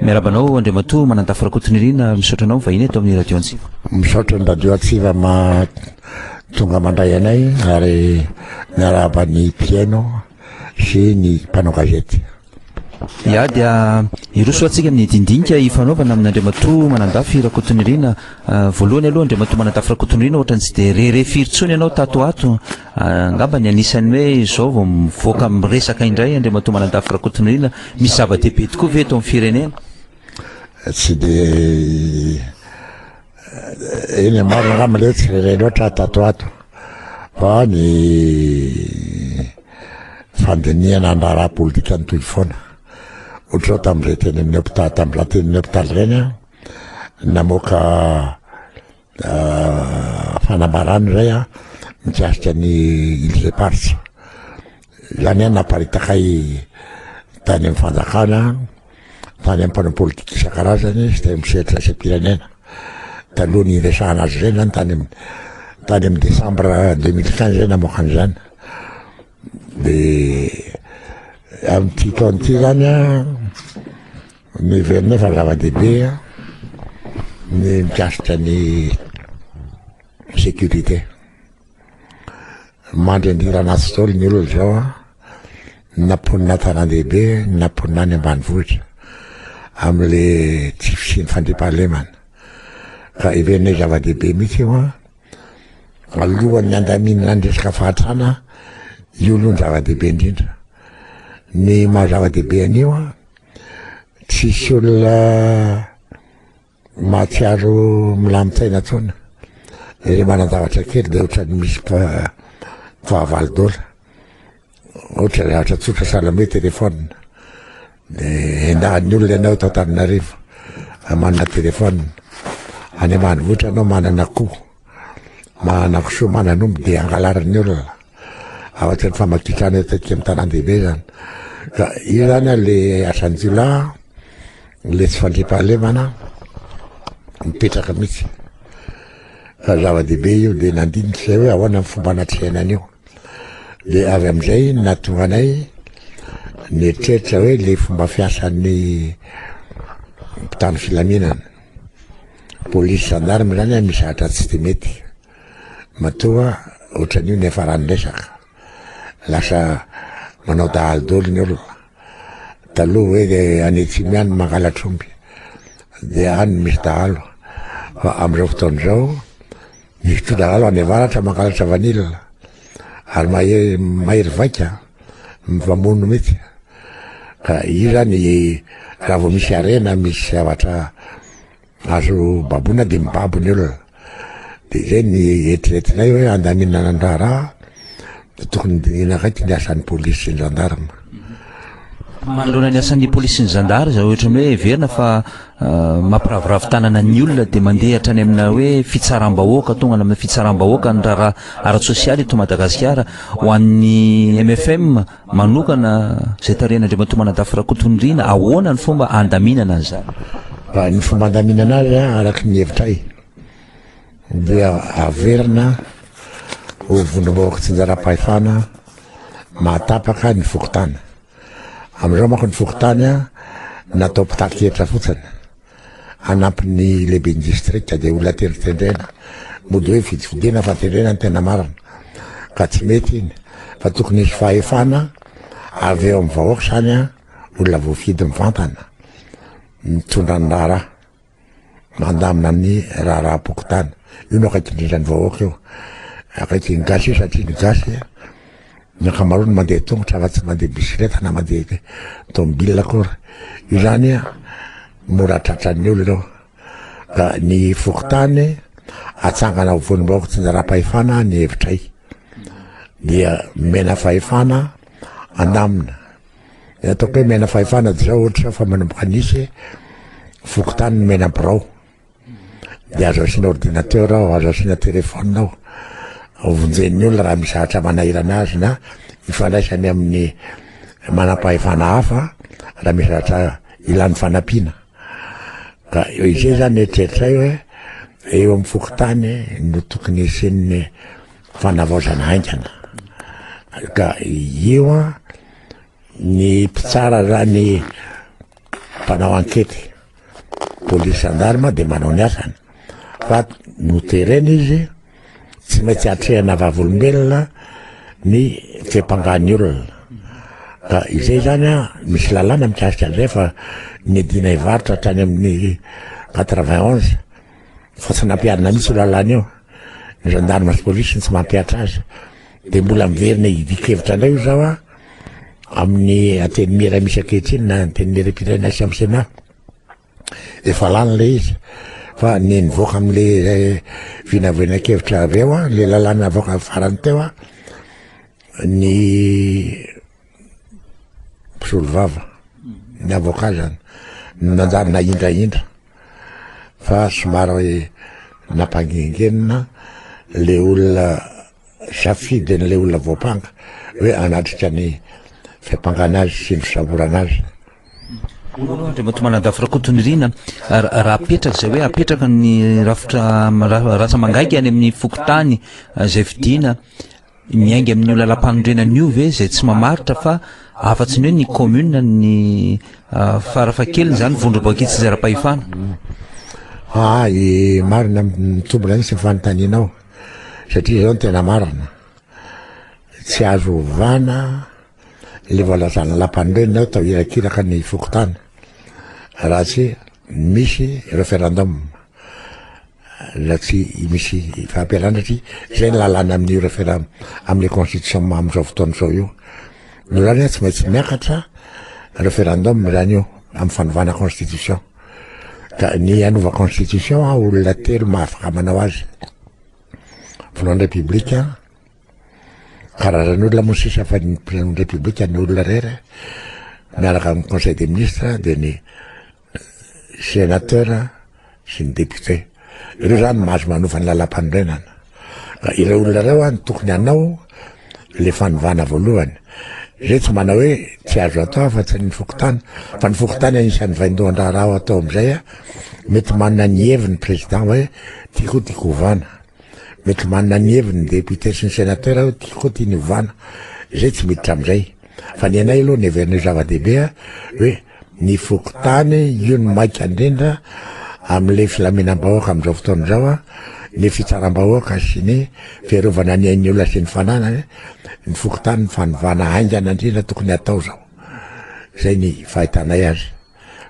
Miarahaba anao Andriamatoa Manandafy Rakotonirina, misaotra anao mivahiny eto amin'ny Radio Antsiva. Misaotra ny Radio Antsiva ma tonga mandray anay ary miarahaba ny mpihaino sy ny mpanao gazety. Ya dia hiroso atsika amin'ny dindinika ifanaovana amin'Andriamatoa Manandafy Rakotonirina. Voalohany aloha Andriamatoa Manandafy Rakotonirina ohatrany tsy dia re re firy intsony ianao tato ho ato Angamba ny anisan'ny hoe izao vao mivoaka miresaka indray Andriamatoa Manandafy Rakotonirina, misy zava-dehibe tokoa ve eto amin'ny firenena? Tsy dia eny am-marina angamba ilay tsy re loatra tato ato fa ny fandinihana ny raharaha politika nitohy foana. Ohatr'izao tamin'izay teny amin'ny hopitaly, tamin'izany teny amin'ny hopitaly ireny aho, namoaka Fanambarana iray a mikasika ny Îles Éparses. Izany a naparitaka ahy tany amin'ny fanjakana, tany amin'ny mpanao politika isan-karazany sy tany amin'ny sehatra iraisam-pirenena. Taloha ny hiresahana azy ireny zany tany amin'ny tany amin'ny décembre deux mille quinze zay namoaka an'izany. De amin'ity taona ity zany a Miverina fa zava-dehibe ny mikasika ny sécurité. Mandry an-dira anaty stôly ny olona izao an, na mponina an-tanàn-dehibe na mponina any ambanivohitra, amin'ilay tsy fisian'ny fandriampahalemana. Ka heverina hoe zava-dehibe mihitsy io an, alohan'ny handaminana ny resaka fahantrana, io aloha no zava-dehibe indrindra. Ny maha zava-dehibe an'io an. Tsisy olona mahatsiaro milamin-tsaina intsony. Ilay manan-javatra kely dia ohatran'ny misy fahavalo dola. Ohatra zavatra tsotra sahala amin'ny hoe téléphone. Dia endahan'ny olona ianao eto Antananarivo manana téléphone. Any ambanivohitra ianao manana akoho. manana kisoa manana omby dia angalarin'ny olona avy aty amin'ny famakitrana eto aty amin'ny tanàn-dehibe zany ka io zany a le asan'ny jiolahy a, le tsy fandriampahalemana mipetraka mihitsy ka zava-dehibe io dia nandinika izay hoe ahoana ny fomba anatrehana an'io dia avy amin'izay no nahatonga anay nieritreritra hoe le fomba fiasan'ny mpitandro filaminana Polisy gendarme zany an misy zatra tsy de mety matoa otranio ny afarany resaka lasa manao dahalo doly ny olona taloha hoe de any atsimo ihany mangalatr'omby de any misy dahalo fa amizao fotoana izao Misy mpilalao any avaratra mangalatra vanille ary mahery mahery vaika mifamono mihitsy ka io zany raha vao misy harena misy zavatra azo baboina dia mibabo ny olona dia izay ny eritreretinay hoe handaminana ny raharaha Dia tokony hodinihina akaiky ny asan'ny polisy sy ny zandarma. Manoloana ny asan'ny polisy sy ny zandary izao ohatran'ny hoe heverina fa ah, mampiraviravy tanana ny olona dia mandeha hatrany amina hoe fitsaram-bahoaka, tonga any amina fitsaram-bahoaka ny raharaha ara-tsosialy eto Madagasikara. Ho an'ny MFM manokana izay tarihan'Andriamatoa Manadafy Rakotonirina, ahoana ny fomba handaminana an'izany? Raha ny fomba handaminana azy, araka ny hevitray, dia averina ho vondrom-bahoaka tsinjaram-pahefana mahatapaka ny fokontany. Amin'izao manko ny fokontany natao mpitaky fotsiny anampin'ny lehibe ny distrika dia olona tendrotendrena mody hoe vidividina fa tendrena ny tena marina ka tsy mety iny fa tokony hisy fahefana avy eo amin'ny vahoaka izany olona voafidy mivantana mitondra ny raharaha mandamina ny raharaham-pokontany. Io no akaiky indrindra ny vahoaka io. Akaiky ny gasy io satria ny gasy ny ankamaroany mandeha tongotra fa tsy mandeha bisikileta na mandeha tomobile akory. Io zany mora tratran'ny olona io. Ka ny fokontany atsangana ho vonimbahoaka tsinjaram-pahefana ny hevitray. Dia mena fahefana andamina. Dia ataoko hoe mena fahefana dia zao ohatra fa manomboka nisy fokontany ny mena birao. Dia azo asiana ordinateur ao, azo asiana téléphone ao. Vonjen'ny olona raha misy zavatra manahirana azy na ifandraisany amin'ny manam-pahefana hafa raha misy zavatra ilany fanampiana. Ka izay zany eritreritray hoe eo amin'ny fokontany no tokony hisian'ny fanavaozana haingana. Ka io an ny mpitsara ra ny mpanao ankety polisy andarima dia manao ny asany fa noterena izy tsy maintsy atrehana vavolombelona ny fepangany olona ka izay zany a misy lalàna mikasika an'izay fa ny dina hivarotra hatrany amin'ny 91 Fa tsy nampiharina mihitsy io lalàna io. Ny gendarme sy police no tsy mampihatra azy. Dia mbola miverina hidian-kevitra indray hoy izaho amin'ny antenimiera misy ankehitriny na antenimieram-pirenena sy amin'ny Sénat. Efa lany ilay izy. Fa ny nivoaka amin'ilay eh, vinavinankevitra avy eo, ilay lalàna avoaka farany teo, ny mpisolovava ny avocat zany no nanjary nahindrahindra fa somary nampangingenina le olona safidy an'le olona voampanga hoe anatrika ny fiampangana azy sy ny fisamborana azy Andriamatoa Manadafy Rakotonirina, raha apetraka izay hoe apetraka ny rafitra rasa mangaika any amin'ny fokontany izay fidina Miainga amin'io lalam-panorenana io ve izay tsy mamaritra fa afa-tsy ny hoe ny commune ny farafahakeliny izany vondrom-boakidy tsy zara-pahefana? Aa eh, marina mitombina mihitsy ny fanontanianao satria izao ny tena marina tsy azo ovana le voalazana lampanorenina atao irakiraka ny fokontany raha tsy misy referendum na tsy misy fahampiarana satria izay ny lalàna amin'io referendum amin'ny constitution amin'izao fotoana izao io. Ny rano io tsy maintsy miakatra referendum ny rano io amin'ny fanovana constitution. Ka ny hanova constitution a olona telo mahafaka manao azy. Voalohany repoblika, karazan'olona moa sisa fa ny president repoblika ny olona rery miaraka amin'ny conseil des ministres dia ny Sénateur sy ny député. Ireo zany no mahazo manova ny lalampanorenana. Ka ireo olona ireo an tokony hanao le fanovana voalohany. Zay tsy manao hoe tsy azo atao afa tsy ny fokontany fa ny fokontany anisan'ny vaindohan-draharaha ao atao amin'izay a mety manana ny heviny président hoe tiako tiako hovana. Mety manana ny heviny ny député sy ny sénateur hoe tiako tiany hovana. Zay tsy miditra amin'izay. Fa ny anay aloha ny heverinay zava-dehibe hoe ny fokontany, io no maika indrindra amin'ilay filaminam-bahoaka amin'izao fotoana izao a, ny fitsaram-bahoaka sy ny fiarovana ny ain'ny olona sy ny fananany, ny fokontany ny fanovana haingana indrindra tokony hatao izao, izay ny fahitanay azy.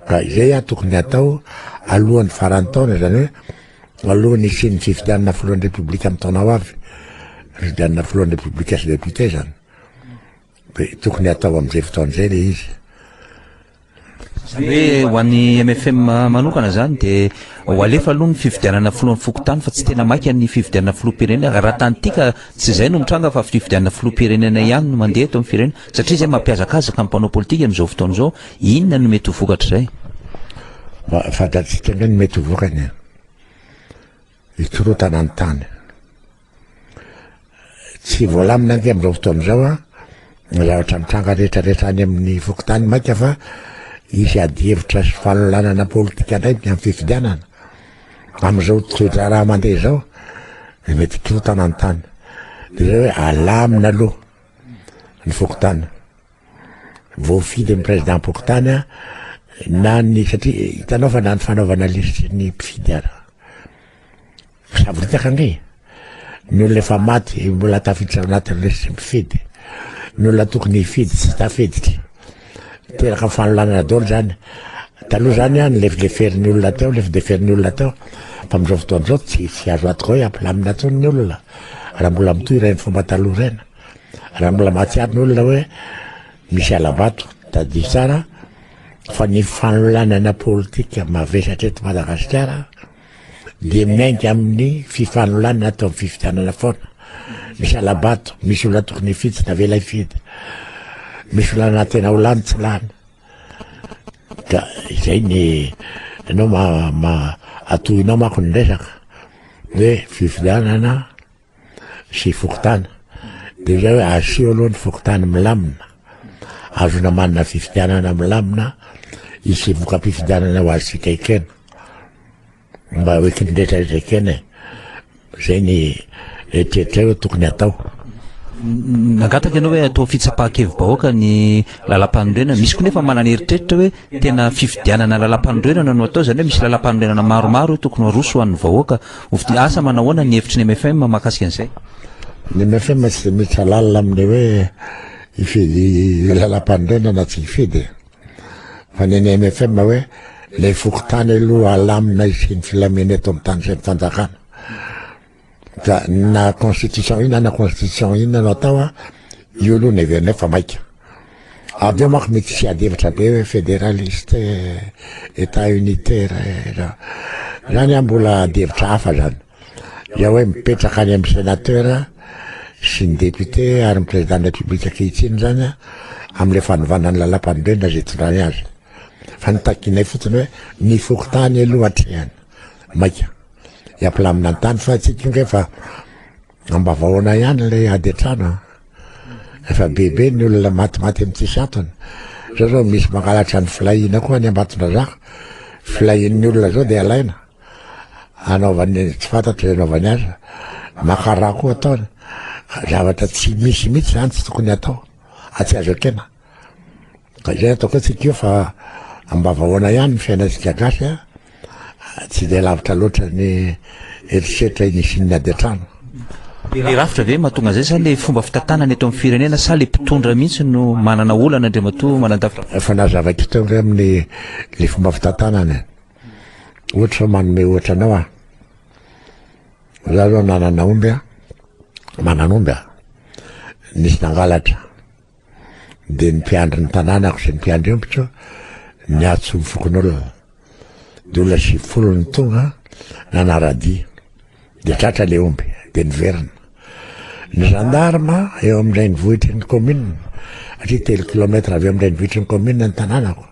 Ka izay a tokony hatao alohan'ny faran'ny taona, izany hoe alohan'ny hisian'ny fifidianana filohan'ny Repoblika amin'ny taona ho avy, fifidianana filohan'ny Repoblika sy Député izany. Dia tokony hatao amin'izay fotoana izay ilay izy. Izany hoe ho an'ny mfm manokana izany dia ho alefa aloha ny fifidianana filohan'ny fokontany fa tsy tena maika ny fifidianana filoham-pirenena. Raha tantika tsy izay no mitranga fa fifidianana filoham-pirenena ihany no mandeha eto amin'ny firenena satria izay mampihazakazaka ny mpanao politika amin'izao fotoana izao. Inona no mety ho vokatr'izay? Fantatsika indray ny mety ho vokany. Hikorontana ny tany. Tsy voalamina ange amin'izao fotoana izao a, ny zavatra mitranga rehetrarehetra any amin'ny fokontany mainka fa hisy adihevitra sy fanolanana politika indray ny amin'ny fifidianana. Amin'izao toe-draharaha mandeha izao, dia mety hikorontana ny tany. Dia izao hoe alamina aloha ny fokontany. voafidy ny Président-pokontany na ny satria hitanao fa na ny fanaovana lisitry ny mpifidy ara savoritaka ange ny olona efa maty mbola tafiditra ao anatin'ny lisitry mpifidy ny olona tokony hifidy tsy tafiditra teraka fanolanana daholo zany taloha zany a ny lefideferin'ny olona teo lefideferin'ny olona teo fa amin'izao fotoana izao tsy tsy azo atoko hoe ampilamina tsony ny olona raha mbola mitohy ireny fomba taloha ireny Raha mbola mahatsiaro ny olona hoe misy alabato, tadidio tsara fa ny fanolanana politika mavesatra eto Madagasikara dia miainga amin'ny fifanolanana atao amin'ny fifidianana foana. Misy alabato, misy olona tokony hifidy tsy navela hifidy. Misy olona na tena ho lany tsy lany. Ka izay ny ianao ma, ma atohinao manko ny resaka hoe fifidianana sy fokontany dia izay hoe asio aloha ny fokontany milamina, azona manana fifidianana milamina hisy voka-pifidianana ho antsika ekena mba ho ekin'ny rehetra rehetra ekena e izay ny eritreritra hoe tokony atao nangataka ianao hoe atao fitsapahan-kevi-bahoaka ny lalam-panorenana misy koa nefa manana eritreritra hoe tena fifidianana lalam-panorenana no atao izany hoe misy lalam-panorenana maromaro hoe tokony ho aroso ho an'ny vahoaka Ovidia, asa manao ahoana ny hevitry ny mfm mahakasika an'izay? Ny mfm tsy dia miditra lalina amin'ny hoe hifidy lalam-panorenana na tsy hifidy e. Fa ny an'ny mfm hoe ilay fokontany aloha halamina hisian'ny filamena eto amin'ny tany sy ny fanjakana. Ka na constitution inona na constitution inona no atao, io aloha ny heverina hoe fa maika. Avy eo manko mety tsy hiady hevitra be hoe federaliste, Etat unitaire ra, zany an mbola ady hevitra hafa zany. Dia hoe mipetraka any amin'ny sénateur sy ny député ary ny président de la République ankehitriny zany an amin'ilay fanovana ny lalam-panorenana izay hitondrany azy. Fa ny takinay fotsiny hoe ny fokontany aloha atrehina. Maika. Hiampilamina ny tany fa tsy tonga efa Ambavao anay ihany ilay ady an-trano an. Efa bebe ny olona matimaty amin'ny tsisy antony. Zao zao misy mangalatra ny filahiana koa any Ambatondrazaka. Filahian'ny olona zao dia alaina. Anaovany tsy fantatro izay anaovany azy. Makara koa ataony. Zavatra tsy misy mihitsy izany tsy tokony atao. Atsy azo ekena. Ka izay ataoko antsika io fa ambavahoana ihany ny fiainantsika gasy a, tsy dia lavitra loatra ny herisetra iny isian'ny ady an-trano. Dia rafitra ve mahatonga an'izay sa le fomba fitantanana eto amin'ny firenena sa le mpitondra mihitsy no manana olana Andriamatoa Manandafy? Efa nazavaiko teo angamba ny le fomba fitantanana e. Ohatra fa manome ohatra anao aho. Za zao nanana omby a, manana omby a, nisy nangalatra. dia ny mpiandry ny tanànako sy ny mpiandry ombiko niatso ny fokonolona dia olona sivifolo ny tonga nanaradia dia tratra le omby dia niverina ny gendarme eo amin'ilay ny vohitry ny commune atria telo kilometra avy eo amin'ilay ny vohitry ny commune ny tanànako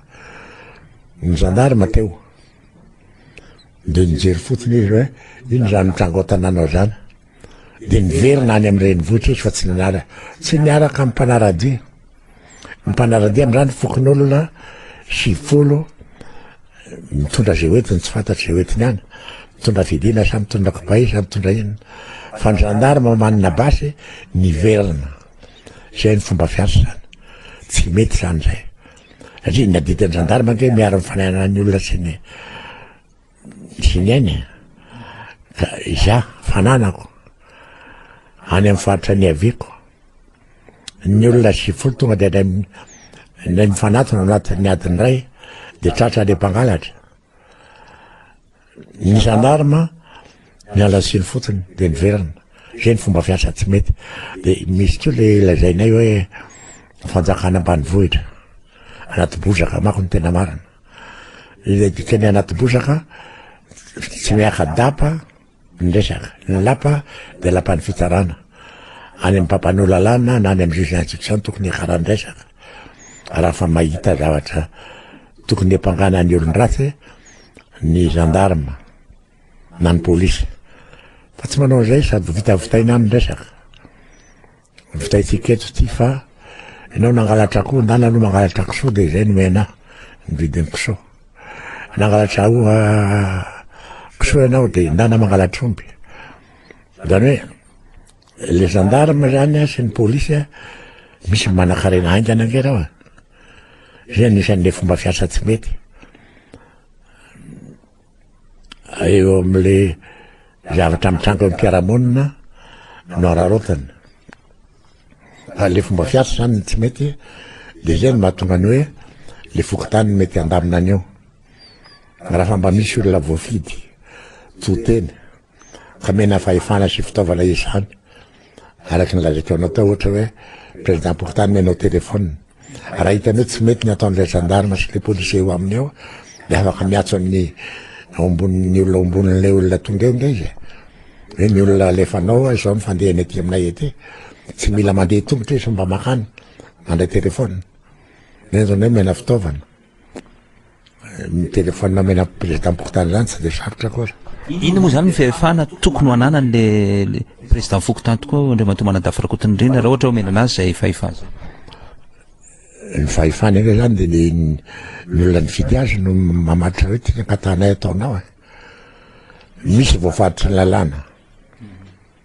ny gendarme teo dia nijery fotsiny izy hoe iny zany mitrango tanànao zany Dia niverina any amin'ny renivohitra izy fa tsy nanala, tsy niaraka amin'ny mpanara-dia. Ny mpanara-dia amin'izany fokonolona sivifolo mitondra izay hoentiny tsy fantatra izay hoentiny any, mitondra fidina sa mitondra kibay sa mitondra inona. Fa ny zandarma manana basy niverina. Izay ny fomba fiasa izany. Tsy mety izany izay. Satria ny adidy ny zandarma ange miaro ny fanahinan'ny olona sy ny Tsinaina ka izaho fananako any amin'ny faritra niaviako. Ny olona sivifolo tonga dia indray mifanatona anatin'ny adiny iray dia tratra ilay mpangalatra. Ny zandarma miala siny fotsiny dia niverina. Izay ny fomba fiasa tsy mety. Dia misy koa ilay lazainay hoe fanjakana ambanivohitra anaty bozaka manko ny tena marina. Ilay dikan'ny anaty bozaka, tsy miaka-dapa ny resaka. Ny lapa dia lapan'ny fitsarana. Any amin'ny mpampanoa lalàna na any amin'ny juge d'instruction tokony hiakarany resaka. Raha fa mahita zavatra tokony hepangana ny olon-dratsy ny gendarme na ny polisy. Fa tsy manao an'izay sady vitavitaina any ny resaka. Vitaintsika eto ity fa ianao nangalatra akoho ndana aloha mangalatra kisoa dia izay nomey anah ny vidin'ny kisoa. Nangalatra aho kisoa ianao dia ndana mangalatra omby. Izany hoe le gendarme izany sy ny polisy misy manakarena haingana ange reo. Izay anisan'ilay fomba fiasa tsy mety. eo amin'le zavatra mitranga eo am-piarahamonina no araraotany fa le fomba fiasa zany ny tsy mety de zay no mahatonga ny hoe le fokontany mety handamina an'io raha fa mba misy olona voafidy to teny Hamena fahefana sy fitaovana izany araka ny lazaiko anao tao ohatra hoe président pourtant omenao téléphone raha hitany hoe tsy mety ny ataon'ilay gendarme sy le policier eo aminy eo dia afaka miatso amin'ny ombonin'ny olona ombonin'ilay olona tonga eo nga izy hoe ny olona alefanao izao ny fandehany aty aminay aty tsy mila mandeha tongotra izy mba makany mandray téléphone nenjona hoe mena fitaovana Miteny foana omena prezidampokotany zany tsy de sarotra akory. Inona moa izany ny fahefana tokony ho ananany le président fokontany tokoa Andriamatoa Manadafy Rakotonindrina raha ohatra omena anazy izay fahefana? Ny fahefana aloha izany dia ny ny olona nifidy azy no mamaritra hoe ty ny ankatanay ataonao e. Misy voafaritry ny lalàna.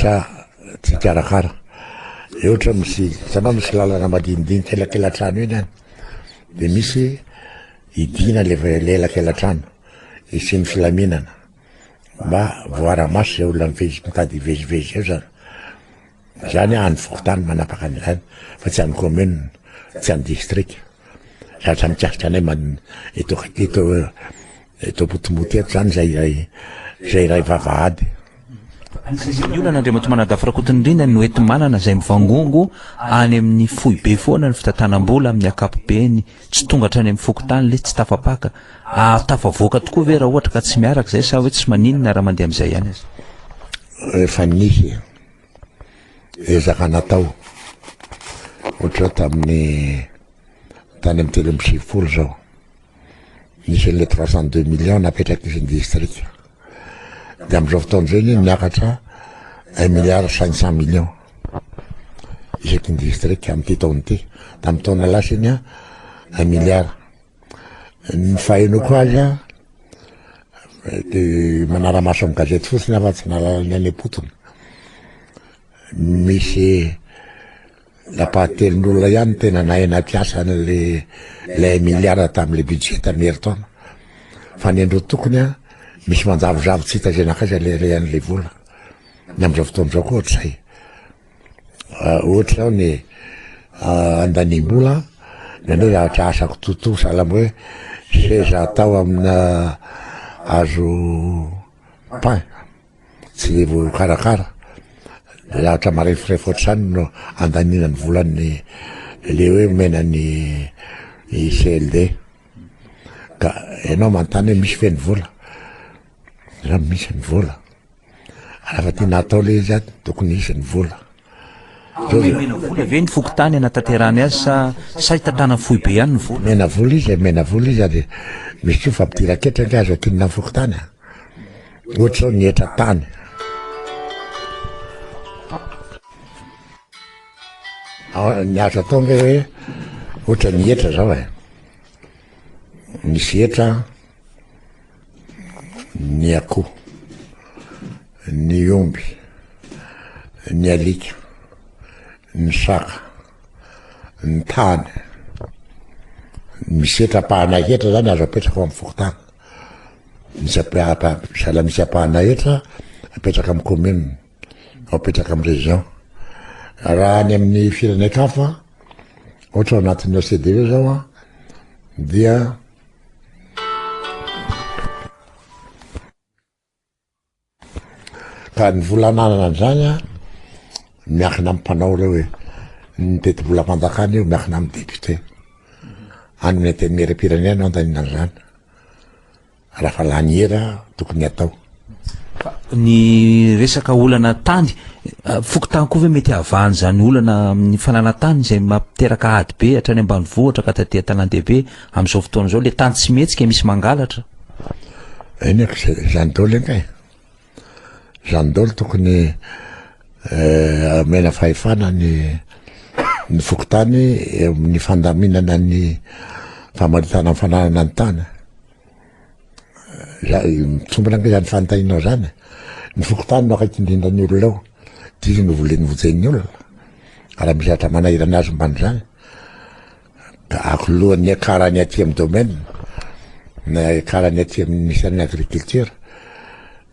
sa tsy hikarakara de ohatra misy hitanao misy lalana madinidinika elakelatrano iny any de misy idina le elakelatrano isian'ny filaminana mba voara-maso zay olona mitady hivezivezy eo zany Izany an ny fokontany manapaka an'izany fa tsy an'ny commune, tsy an'ny district. Zatra mikasika anay man eto eto eto Ampotomoty eto zany zay iray zay iray vavahady. Anisan'izany ny olan'Andriam Batomanadafy Rakotonindrindra no eto Manana izay mivangongo any amin'ny foibe foana ny fitantanam-bola amin'ny ankapobeny tsy tonga hatrany amin'ny fokontany le tsy tafapaka. Ary tafavoaka tokoa ve raha ohatra ka tsy miaraka izay sa hoe tsy maninona raha mandeha amin'izay ihany aza? Efa nisy e. Ezaka natao ohatra tamin'ny tany amin'ny telo amby sivifolo izao, nisy an'ilay trois cent deux millions napetrak'izy ny distrika. Dia amin'izao fotoana izao anie miakatra un milliard cinq cent millions isaky ny distrika amin'ity taona ity. Tamin'ny taona lasa iny un milliard. Ny fahenoko azy a, de manara-maso amin'ny gazety fotsiny aho fa tsy nahalala ny any am-potony. Misy lapahan-telon'olona ihany tena nahay nampiasa an'le le un milliard tamin'le budget tamin'ny herintaona. Fa ny andro tokony a, misy manjavozavo tsy hita izay naka aiza le an'le vola. Ny amin'izao fotoana izao koa ohatr'izay. ohatra zao ny andanimbola de ny zavatra asako tontosa alamo hoe seza atao amina azo pain tsy vokarakara de zavatra marefirefy ohatr'izany no andanina ny volan'ny le hoe omena ny CLD ka ianao manontany hoe misy ve ny vola? Izaho misy ny vola. Rafa tena atao le izy aty tokony hisy ny vola. Omena vola ve ny fokontany anatanterahany azy sa sahy tantanan'ny foibe ihany ny vola? Omena vola izy, omena vola izy ary misy koa fa mpidiran-ketra nga azo akinina ny fokontany a. Ohatra zao ny hetra tany. Ny azo atao nga hoe ohatra ny hetra zao e. Misy hetra ny akoho, ny omby, ny alika, ny saka, ny tany. Misy hetra-pahanay hetra zany azo apetraka ao amin'ny fokontany. Misy sahala misy apahanay hetra apetraka amin'ny commune, apetraka amin'ny région. Raha any amin'ny firenenkafa, ohatra ao anatin'ny OCDE zao an, dia Ka ny vola ananana an'izany an, miankina amin'ny mpanao ireo e. Ny tetibolam-panjakana io miankina amin'ny député. Any amin'ny antenimieram-pirenena no andaninana an'izany. Raha fa laniera tokony atao. Fa ny resaka olana tany, fokontany koa ve mety havahan' izany olana amin'ny fananana tany izay mampiteraka ady be hatrany ambanivohitra ka taty an-tanàn-dehibe amin'izao fotoana izao, ilay tany tsy mihetsika misy mangalatra? Eny aka izay, izany daholo anie e! Izany daholo tokony omena fahefana ny ny fokontany eo amin'ny fandaminana ny famaritana ny fananana ny tany. Mitombina ange zany fanontanianao zany, ny fokontany no akaiky indrindra ny olona ao, dia izy no volen'ny vojehin'ny olona, raha misy zavatra manahirana azy momba an'izany, dia ankilony ny akarany aty amin'ny domaine, na akarany aty amin'ny ministère de l'agriculture,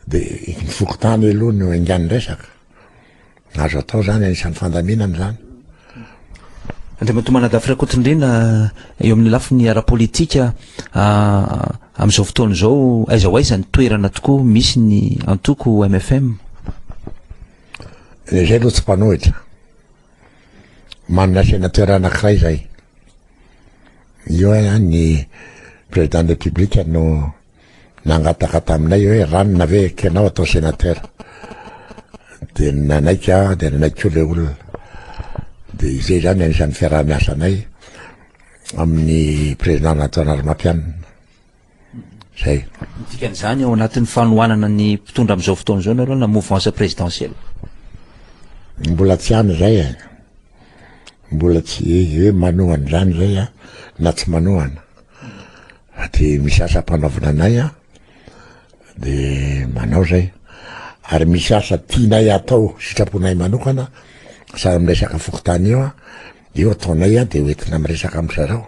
dia ny fokontany aloha no engahan'ny resaka. Azo atao izany, anisan'ny fandaminana izany. Andriamatoa Manadafy Rakotondrena, eo amin'ny lafiny ara-politika, amin'izao fotoana izao, aiza ho aiza ny toerana tokoa misy ny antoko MFM? Dia izay aloha tsy mpanohitra. Manana sena toerana anankiray izay. Io hoe ny président de la république no nangataka taminay hoe ranona ve ekenao atao sénateur dia nanaiky aho dia nanaiky koa ilay olona dia izay izany anisan'ny fiaraha-miasanay amin'ny président Antoine Armatianina zay dikan'izany ao anatin'ny fanohanana ny mpitondra amin'izao fotoana izao nareo na mouvance présidentielle mbola tsy any zay e mbola tsy hoe manohana izany zay a na tsy manohana Aty misy asa ampanaovina anay an, de manao zay. Ary misy asa tianay atao sitraponay manokana sahala amin'ny resaka fokontany io an, de io ataonay an, de ho entina miresaka amin'ny zareo,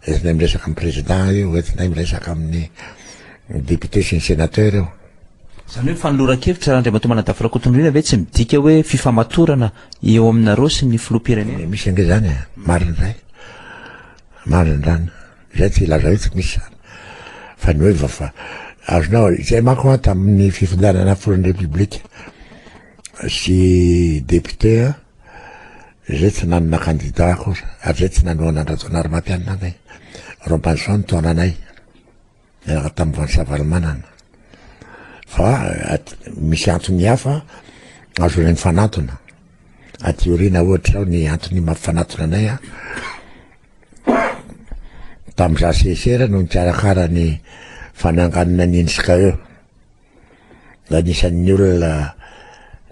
entinay miresaka amin'ny président io, entinay miresaka amin'ny député sy ny sénateur io. Izany hoe fanoloran-kevitra Andriamatoa Manadafy Rakotondriana ve tsy midika hoe fifamatorana eo aminareo sy ny filoham-pirenena? Misy ange zany e, marina zay, marina zany. Izay tsy lazaina tsy misy izany fa ny hoe vafa azonao izay manko an tamin'ny fifidianana filohan'ny repoblika sy député an izay tsy nanana kandida akory ary izay tsy nanohana an-dRajaonarimampianina anay Robinson taonanay Niaraka tamin'i Ratsavalomanana. Fa misy antony hafa ahazoanay mifanantona. Aty aoriana ohatra zao ny antony mampifanantona anay a. Tamin'izaho sesera no nikarakara ny fananganana ny NSKE. Anisan'ny olona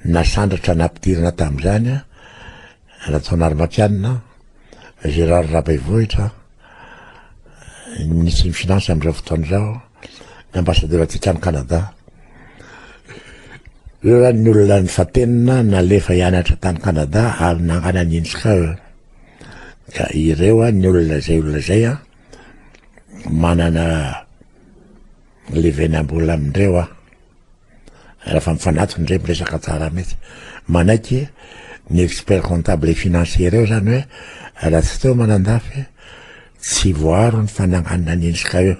nasandratra nampidirina tamin'izany Rajaonarimampianina, Gérard Rabaivohitra, ny minisitry ny Finances amin'izao fotoana izao, ny ambassadeur antsika any Canada. Ireo zany ny olona nifantenina nalefa hianatra tany Canada ary nangana ny INSCAL. Ka ireo ny olona izay olona izay manana Livenam-bola amin-dreo aho. Rehefa mifanatona indray miresaka tsara mihitsy. Manaiky ny expert comptable et financier reo zany hoe Ratsiteo Manandafy tsy voaro ny fananganana ny INSCA io.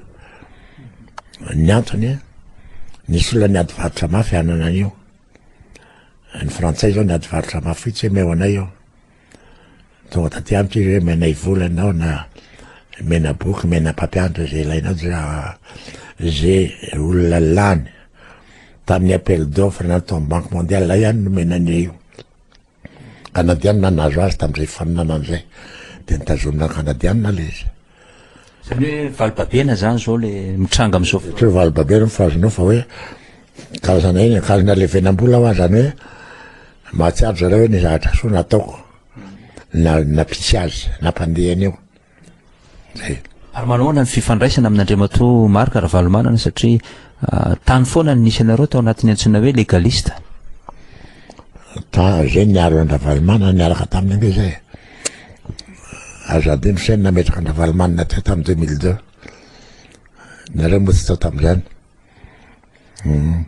Ny antony, nisy olona niady varotra mafy hanana an'io. Ny frantsay zao niady varotra mafy foitsy hoe meo anay io. Tonga taty amiko izy hoe menay vola ianao na mena boky, mena mpampianatra izay ilainao dia izay olona lany tamin'ny appel d'offre na tamin'ny banque mondiale zay ihany nomena an'io. Canadianina nahazo azy tamin'izay fifaninanana izay dia nitazonina canadianina ilay izy. Zany hoe valibabena zany zao le mitranga amizao fotoana. Tsy hoe valibabena moa fa azonao fa hoe karazana iny akazo nalevenam-bola hoa zany hoe mahatsiaro zareo hoe ny zavatra soa nataoko na nampisy azy nampandeha an'io. Zay. Ary manahoana ny fifandraisana amin'Andriamatoa Marc Ravalomanana satria tany foana no nisy anareo tao anatin'ny antsoina hoe legaliste. Zay niaro an-dRavalomanana niaraka taminy ange zay. Azo adino saina nametraka an-dRavalomanana teo tamin'ny 2002. Nareo moa tsy tao tamin'izany. Hmm.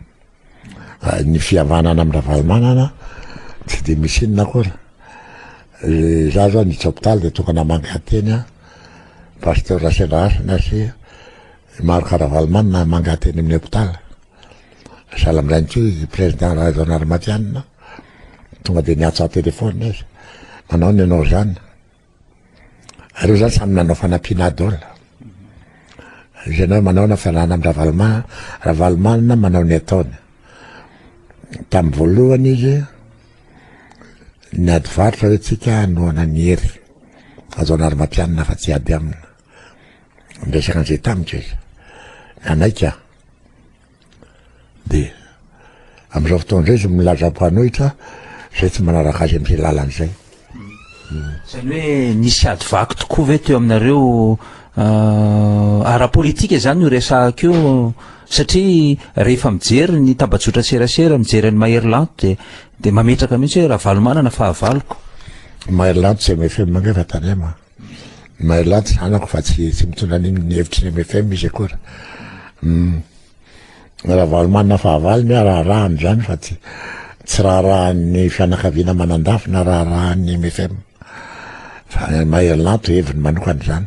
Ah, ny fihavanana amin'ny Ravalomanana tsy dia misy inona akory. Eh, za zao ny hopitaly dia tokana mangateny a pasteur Rasendrahasina sy Marc Ravalomanana mangateny amin'ny hopitaly. Sahala amin'izay mihitsy hoy i Président Rajaonarimampianina, tonga dia niantso an-téléphone izy, manao ahoana ianao izany? Ireo izany samy nanao fanampiana daholo. Ianao manao na fanana amin'ny Ravalomanana, Ravalomanana manao ny ataony. Tamin'ny voalohany izy, ny ady varotra hoe tsika hanohana ny hery. Rajaonarimampianina fa tsy ady aminy. Niresaka an'izay tamiko izy. Nanaiky aho. Dia amin'izao fotoana izao izy milaza mpanohitra izay tsy manaraka azy amin'izay lalany izay. Izany hoe nisy ady vaky tokoa ve teo aminareo ah, ara-politika izany no resahako io satria rehefa mijery ny tambajotra serasera, mijery an'i Mahery Lanto dia dia mametraka mihitsy hoe Ravalomanana fahavaloko. Mahery Lanto tsy MFM ange fa Tanema. Mahelan'ny tsy zanako fa tsy tsy mitondra an'iny ny hevitry ny MFM izy akory. Hum. Ravalomanana fahavalo ny raharaha amin'izany fa tsy tsy raharahan'ny fianakaviana manandafy na raharahan'ny MFM. Fa Mahelanto heviny manokana izany.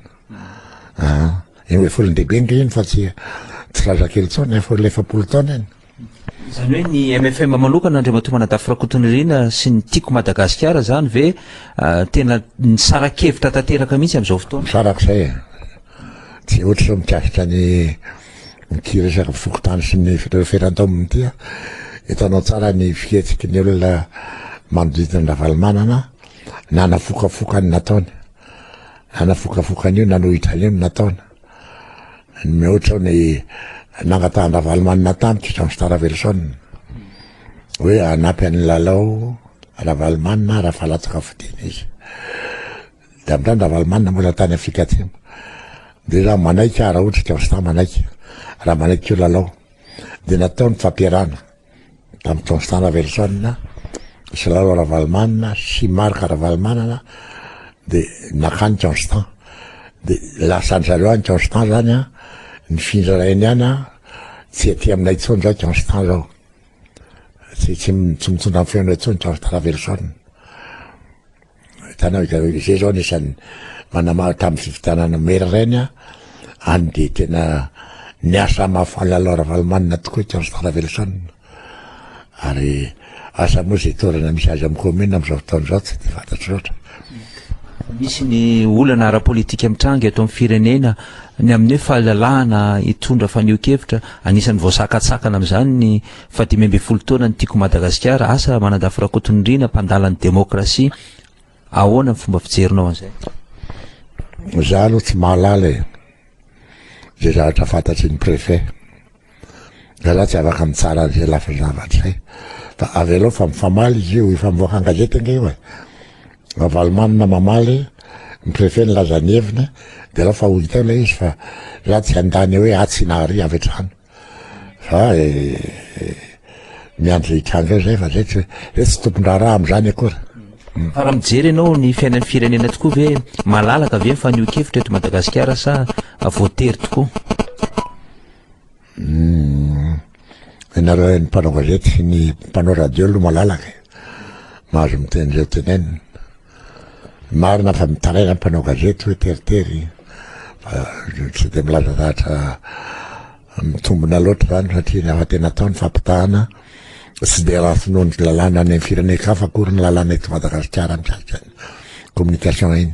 Ah, eny hoe folon-dehibe nge iny fa tsy tsy zazakely intsony, efa olona efapolo taona iny. Izany hoe ny mfm manokana Andriamatoa Manadafy Rakotonirina sy ny Tiako Madagasikara izany ve tena nisara-kevitra tanteraka mihitsy amin'izao fotoana? Farak'izay e! Tsy ohatra izao mikasika ny ity resaka fokontany sy ny feran-taonina ity an! Hitanao tsara ny fihetsiky ny olona manodidina an'i Ravalomanana na nafokafoka ny nataony, na nafokafoka an'io nanohitra an'io ny nataony. Mihoatra ny nangatahan-dRavalomanana tamiko Jean Star Raveloson hoe hanampy an'i Lalao Ravalomanana raha fa latsaka fodiana izy. Dia avy hatrany Ravalomanana moa izany tany Afrika Atsimo. Dia raha manaiky aho, raha ohatra i Jean Star manaiky, raha manaiky koa Lalao, dia natao ny fampiarahana. tamin'i Constant Laverson, sy Lalo Ravalomanana sy Marc Ravalomanana dia nakany Constant dia lasan'ny zareo any Constant zany a nifindra ilay any any a tsy aty aminay intsony zao Constant zao tsy tsy tsy mitondra ny feonay intsony Constant Laverson Hitanao hitanao izay zao anisan'ny manamaha tamin'ny fifidianana maire ireny a, any dia tena niasa mafy Lalao Ravalomanana tokoa i Théonce Taravelson ary asa moa izay toerana misy azy amin'ny commune amin'izao fotoana izao tsy dia fantatro loatra. Misy ny olana ara-politika mitranga eto amin'ny firenena, ny amin'ny hoe fahalalahana hitondra fanehoan-kevitra, anisan'ny voasakatsakana amin'izany ny Fa dimy ambin'ny folo taona ny Tiako Madagasikara, asa Manandafy Rakotonirina, mpandala ny demokrasia, ahoana ny fomba fijerinao an'izay? Za aloha tsy mahalala e, ze zavatra fantatry ny préfet, de za tsy afaka mitsara an'izay lafiny zavatra zay, fa avelao fa mifamaly izy io, efa mivoaka an-gazety ange io e, Ravalomanana mamaly, ny préfet nilaza ny heviny, de alao fa ho hita eo le izy fa za tsy handany hoe atsy na arỳ avy hatrany. Za e, e, miandry hitranga zay fa zay tsy zay tsy tompon-draharaha amin'izany akory. Hmm. Fa raha mijery ianao ny fiainan'ny firenena tokoa ve malalaka ve ny fanehoan-kevitra eto Madagasikara sa voatery tokoa? Hmm. Ianareo ny mpanao gazety sy ny mpanao radio aloha malalaka e. Mahazo miteny izay tenenina. Marina fa mitaraina ny mpanao gazety hoe teritery fa tsy dia milaza zavatra mitombina loatra izany satria ny hafa tena atao ny fampitahana tsy dia raha finoany lalàna any amin'ny firenen-kafa akory ny lalàna eto Madagasikara mikasika ny communication iny.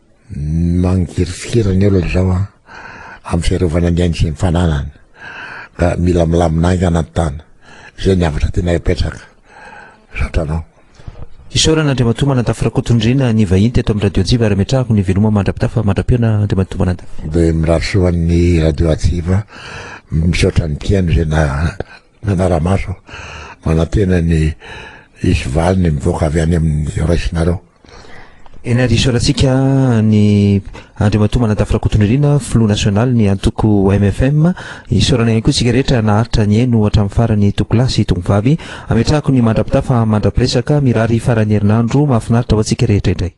Mangirifiry ny olona izao an, amin'ny fiarovana ny ainy sy ny fananany ka mila milamina haingana ny tany. Izay ny havatra tianay apetraka. Misaotra anao. Isaorana Andriamatoa Manantafy Rakotondriana ny vahiny teto amin'ny Radio Hatsiva ary ametrahako ny veloma mandra-pitafa mandra-pihaona Andriamatoa Manantafy. Dia mirary soa an'ny Radio Hatsiva. Misaotra ny mpihaino izay na. Manara-maso aho, manantena ny hisy valiny mivoaka avy any amin'izay raisinareo. Eny ary isaorantsika an'i Andriamatoa Manantafy Rakotonirina, Filoha Nasionalin'ny Antoko mfm. Isaorana ihany koa isika rehetra naharitra nihaino hatramin'ny farany Tokolahy sy Tongovavy. Ametrahako ny mandra-pitafa mandra-piresaka. Mirary faran'ny herinandro mahafinaritra ho antsika rehetra indray.